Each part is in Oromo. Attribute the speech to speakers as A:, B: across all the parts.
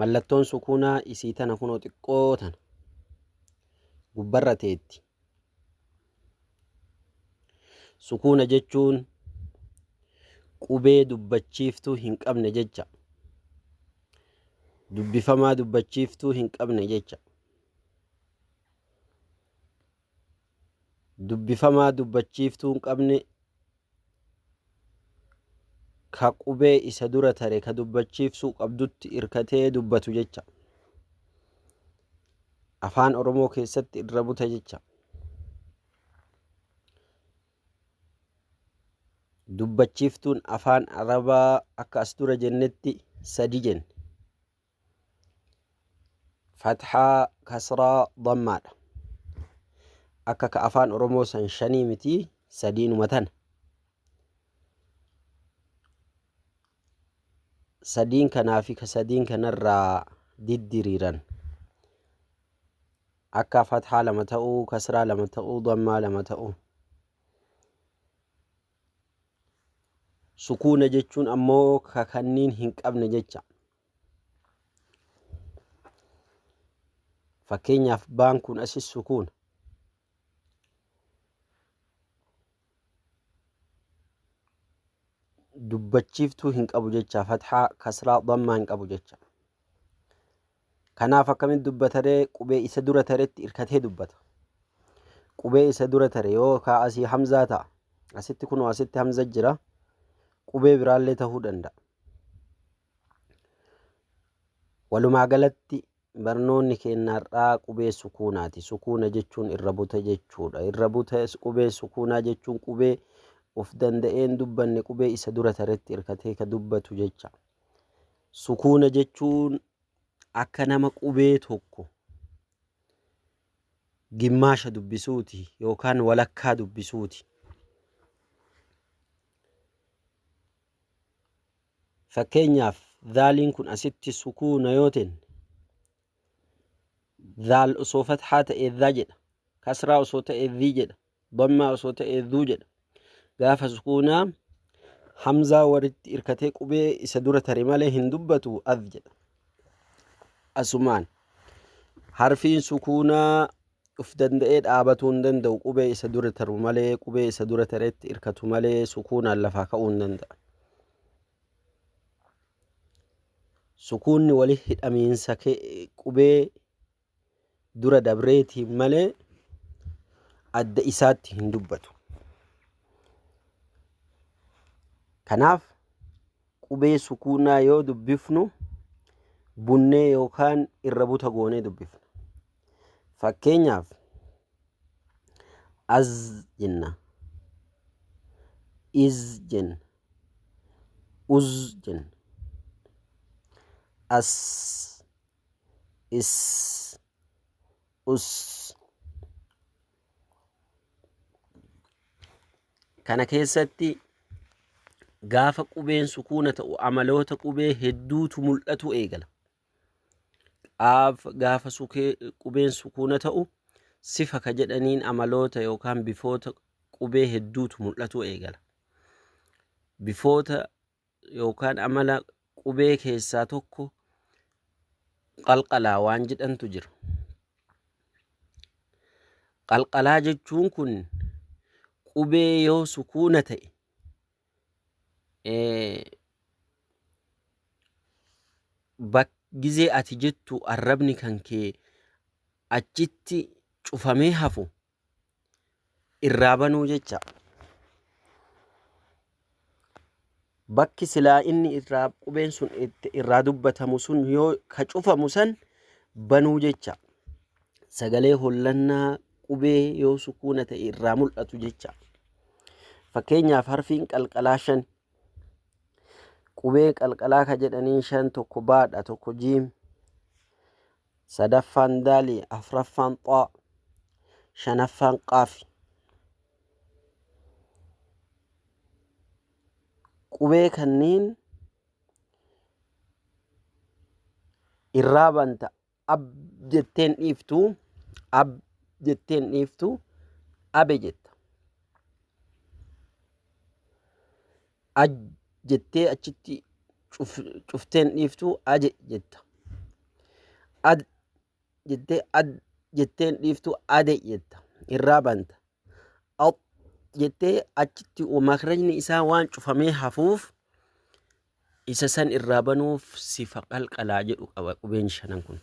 A: Mallattoon sukuunaa isii tana kunoo xiqqoo tana gubbarra teetti. Sukuuna jechuun qubee dubbachiiftuu hin qabne jecha. Dubbifamaa dubbachiiftuu hin qabne jecha. dubbifamaa dubbachiiftuu hin qabne ka qubee isa dura tare ka dubbachiifsuu qabdutti irkatee dubbatu jecha. Afaan Oromoo keessatti irra buta jecha. Dubbachiiftuun afaan Arabaa akka as dura jennetti sadi jenne. fathaa kasraa dammaadha akka ka afaan oromoo san shanii miti sadiinuma tana sadiin kanaa fi ka sadiin kanarraa diddiriiran akka fathaa lama ta'uu kasraa lama ta'uu dammaa lama ta'uu sukuuna jechuun ammoo ka kanniin hin qabne jecha Fakkeenyaaf baan kun asis sukuun. Dubbachiiftuu hin qabu jecha fathaa kasraa dhammaa hin qabu jecha. Kanaaf akkamitti dubbataree qubee isa dura taretti irkatee dubbata. Qubee isa dura tare yoo kaa asii hamzaa ta'a. Asitti kunoo asitti hamza jira. Qubee biraallee ta'uu danda'a. Walumaa galatti barnoonni keenya har'aa qubee sukuunaati. Sukuuna jechuun irra buta jechuudha. Irra buta qubee sukuunaa jechuun qubee of danda'een dubbanne qubee isa dura taretti hirkatee ka dubbatu jecha. Sukuuna jechuun akka nama qubee tokko gimmaasha dubbisuuti yookaan walakkaa dubbisuuti. Fakkeenyaaf, dhaaliin kun asitti sukuuna yoo tenne, dhaal osoo fathaa ta'ee dha jedha, kasraa osoo ta'ee dhi jedha, dhammaa osoo ta'ee dhu jedha. Gaafa sukuunaa hamzaa walitti irkatee qubee isa dura tare malee hin dubbatu adh jedha. Asumaan harfiin sukuunaa Uf danda'ee dhaabatuu hin danda'u, qubee isa dura taru malee, qubee isa dura taretti irkatu malee sukuunaan lafaa ka'uu hin danda'an. Sukuunni wali hidhamiinsa qubee dura dabreetiin malee adda isaatti hin dubbatu. Kanaaf qubee sukuunaa yoo dubbifnu bunnee yookaan irra buta goonee dubbifna. Fakkeenyaaf, az jenna, iz jenna, uz jenna, as, is, us. Kana keessatti gaafa qubeen sukuuna ta'u amaloota qubee hedduutu mul'atu eegala. qaaf gaafa sukee qubeen sukuuna ta'u sifa ka jedhaniin amaloota yookaan bifoota qubee hedduutu mul'atuu eegala. Bifoota yookaan amala qubee keessaa tokko qalqalaa waan jedhantu jira. Qalqalaa jechuun kun qubee yoo sukuuna ta'e gizee ati jettu arrabni kan kee achitti cufamee hafu irraa banuu jecha bakki silaa inni irraa qubeen sun irraa dubbatamu sun yoo ka cufamu san banuu jecha sagalee hollannaa qubee yoo sukuuna ta'e irraa mul'atu jecha. Fakkeenyaaf harfiin qalqalaa shan qubee qalqalaa ka jedhaniin shan tokko baadha tokko jiim sadaffaan daali afraffaan xaa shanaffaan qaafi. Qubee kanneen irraa banta Ab jettee hin dhiiftu. Ab jettee hin dhiiftu. Abe jetta. Aj jettee achitti cuf- cuftee hin dhiiftu. Aje jetta. Ad jettee ad jettee hin dhiiftu. Ade jetta. Irraa banta. Aw jettee achitti makrajni isaa waan cufamee hafuuf isa san irraa banuuf sifa qalqalaa jedhu qaba qubeen shanan kun.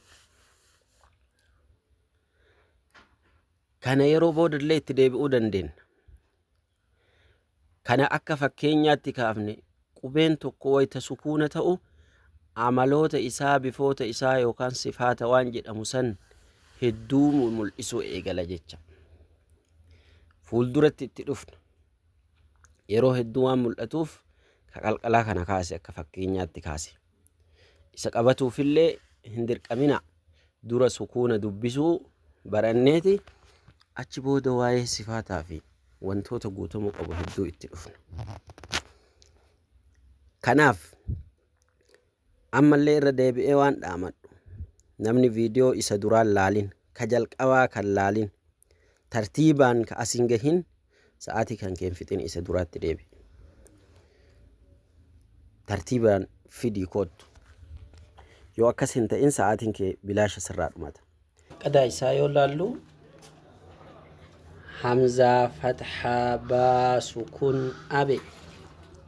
A: Kana yeroo boodallee itti deebi'uu dandeenya. Kana akka fakkeenyaatti kaafne, qubeen tokko wayta sukuuna ta'u amaloota isaa, bifoota isaa yookaan sifaata waan jedhamu san hedduu mul'isuu eegala jecha. Fuulduratti itti dhufna. Yeroo hedduu waan mul'atuuf ka qalqalaa kana kaase akka fakkeenyaatti kaase. Isa qabatuufillee hin dirqamina. Dura sukuuna dubbisuu baranneeti achi booda waa'ee sifaataa fi wantoota guutamuu qabu hedduu itti dhufna. Kanaaf ammallee irra deebi'ee waan dhaamadhu namni viidiyoo isa duraan laalin ka jalqabaa kan laalin Tartiibaan ka as hin gahin sa'aatii kan kee hin fixin isa duraatti deebi. Tartiibaan fidii koottu. Yoo akkas hin ta'in sa'aatiin kee bilaasha sirraa dhumata. Qadaa isaa yoo laallu hamzaa fathaa baa sukun abe.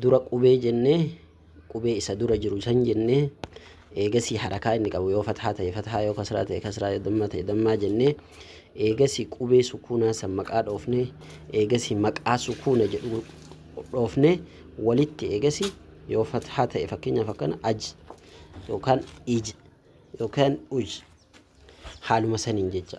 A: dura qubee jennee qubee isa dura jiru san jennee eegasii harakaa inni qabu yoo fathaa ta'e fathaa yoo kasraa ta'e kasraa yoo dammaa ta'e dammaa jennee eegasii qubee sukuunaa san maqaa dhoofnee eegasii maqaa sukuuna jedhu dhoofnee walitti eegasii yoo fathaa ta'e fakkeenyaaf akkana aj yookaan ij yookaan uj haaluma saniin jecha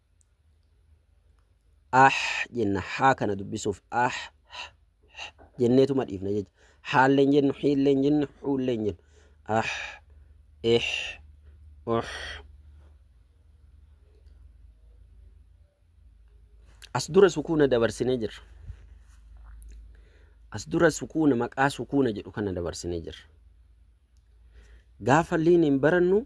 A: ah jenna haa kana dubbisuuf ah jenneetuma dhiifna jecha haallee hin jennu hiillee hin jennu huullee hin jennu ah eh oh as dura sukuuna dabarsinee jirra as dura sukuuna maqaa sukuuna jedhu kana dabarsinee jirra gaafa liiniin barannu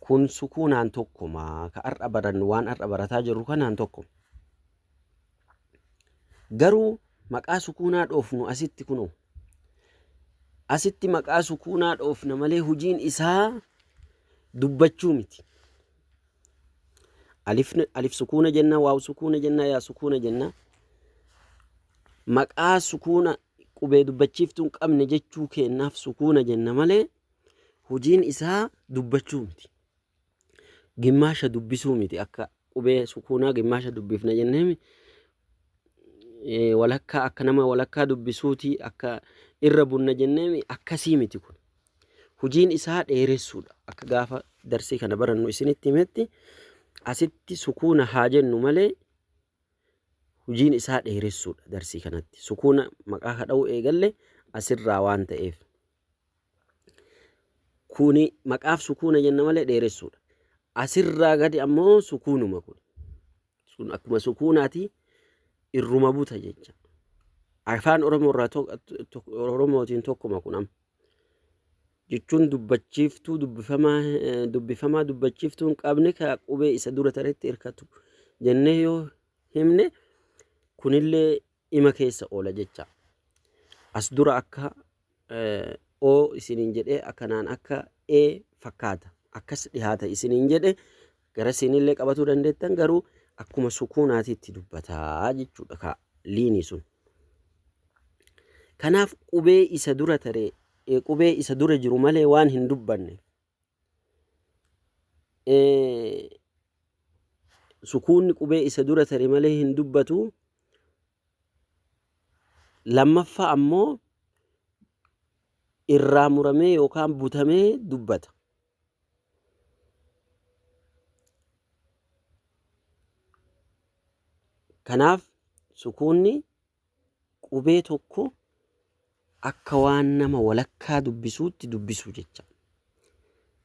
A: Kun sukuunaan tokkuma. Ka har'a barannu waan har'a barataa jirru kanaan tokkuma. Garuu maqaa sukuunaa dhoofnu asitti kunoo. Asitti maqaa sukuunaa dhoofna malee hojiin isaa dubbachuu miti. Alif, alif sukuuna jenna, waaw sukuuna jenna, yaa sukuuna jenna. Maqaa sukuuna qubee dubbachiiftuu hin qabne jechuu keennaaf sukuuna jenna malee Hojiin isaa dubbachuu miti. Gimmaasha dubbisuu miti akka qubee sukuunaa gimmaasha dubbifna jennee miti. Eh, walakkaa akka nama walakkaa dubbisuuti akka irra bunna jennee miti akkasii miti kun. Hojiin isaa dheeressuudha akka gaafa darsii kana barannu isinitti himetti asitti sukuuna haa jennu malee hojiin isaa dheeressuudha darsii kanatti. Sukuuna maqaa kadha'uu eegalle asirraa waan ta'eef. Kuni maqaaf sukuuna jenna malee dheeressuudha. Asirraa gadi ammoo sukuunuma kun. Sun akkuma sukuunaati irruma buta jecha. Afaan Oromoo irraa to- to- Oromootiin tokkuma kun amma. jechuun dubbachiiftuu dubbifamaa eh, dubbifamaa dubbachiiftuu hin qabne ka qubee isa dura taretti hirkatu jennee yoo himne kunillee ima keessa oola jecha. As dura akka eh, o isiniin jedhee akkanaan akka e fakkaata. Akkas dhihaata isiniin jedhe gara siinillee qabatuu dandeettan garuu akkuma sukuunaati itti dubbataa jechuudha kaa liinii sun. Kanaaf qubee isa dura taree eh, qubee isa dura jiru malee waan hin dubbanne sukuunni qubee isa dura tare malee hin dubbatu. Lammaffaa ammoo irraa muramee yookaan butamee dubbata. Kanaaf sukuunni Qubee tokko akka waan nama walakkaa dubbisuutti dubbisuu jecha.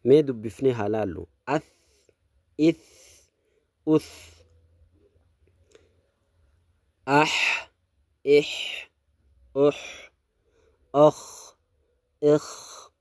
A: Mee dubbifnee haa laallu. Ath, ith, uth. Ah, ih, uh, okh, ikh,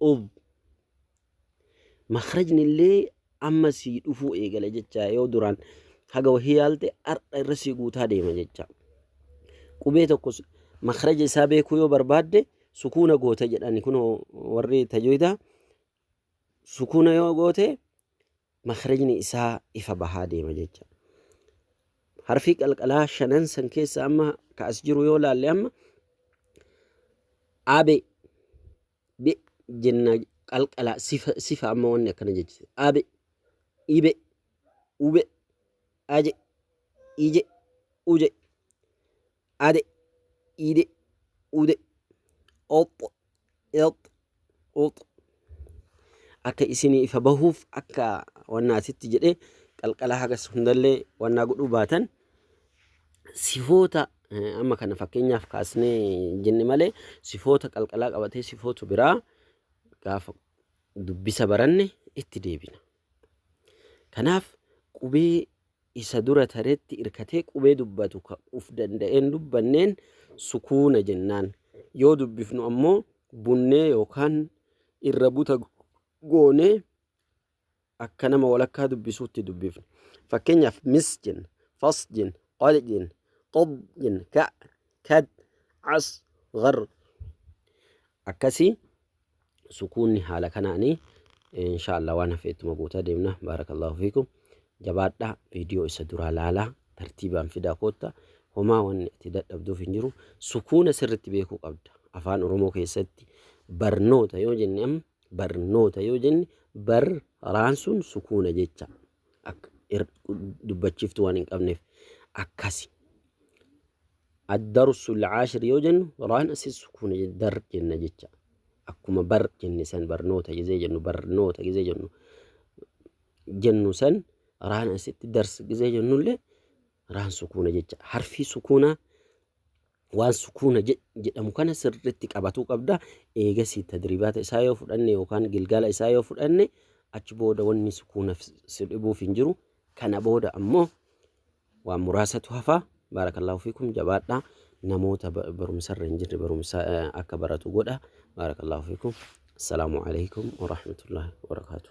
A: ub makrajni illee amma sii dhufuu eegale jecha yoo duraan haga wahii yaalte har'a irra sii guutaa deema jecha qubee tokko makraja isaa beekuu yoo barbaadde sukuuna goota jedhani kun warri tajwida sukuuna yoo goote makhrajni isaa ifa bahaa deema jecha. Harfii qalqalaa shanan san keessa amma ka as jiru yoo laalle amma abe be jenna qalqalaa sifa, sifa amma wanni akkana jechise abe ibe ube aje ije uje ade, ide, ude, oxx, ixx, uxx. Akka isinii ifa bahuuf akka wannaatitti jedhee qalqala hagas hundallee wannaa godhuu baatan sifoota eh, amma kana fakkeenyaaf kaasnee jenne malee sifoota qalqalaa qabatee sifoota biraa gaafa dubbisa baranne itti deebina. Kanaaf qubee isa dura taretti irkatee qubee dubbatu ka uf danda'een dubbanneen sukuuna jennaan. Yoo dubbifnu ammoo bunnee yookaan irra buta goonee akka nama walakkaa dubbisuutti dubbifna. Fakkeenyaaf mis jenna, fas jenna, qad jenna, qad jenna, ka, kad, as, gar. Akkasii sukuunni haala kanaani inshaallah waan hafe ittuma guutaa deemna baarakallahu fiikum jabaadhaa viidiyoo isa duraa laalaa tartiibaan fidaa kootta homaa wanni ati dadhabduuf hin jiru sukuuna sirritti beekuu qabda afaan oromoo keessatti barnoota yoo jenne am barnoota yoo jenne bar raan sun sukuuna jecha Akka ir- dubbachiiftu waan hin qabneef akkasi. Ad-darsu al-ashir yoo jennu raan asi sukuuna je- dar jenna jecha. Akkuma bar jenne san barnoota gizee jennu barnoota gizee jennu jennu san raan asitti dars gizee jennullee raan sukuuna jecha. Harfii sukuunaa waan sukuuna jedhamu kana sirriitti qabatuu qabda. Eegasii tadribaata isaa yoo fudhanne yookaan gilgaala isaa yoo fudhanne achi booda wanni sukuuna si dhibuuf hin jiru. Kana booda ammoo waan muraasatu hafa. Baarakallaahu fiikum jabaadha. Namoota barumsarra hin jirre barumsa akka baratu godha. Baarakallaahu fiikum. Assalaamu alaikum warahmatullaahi wabarakaatuh.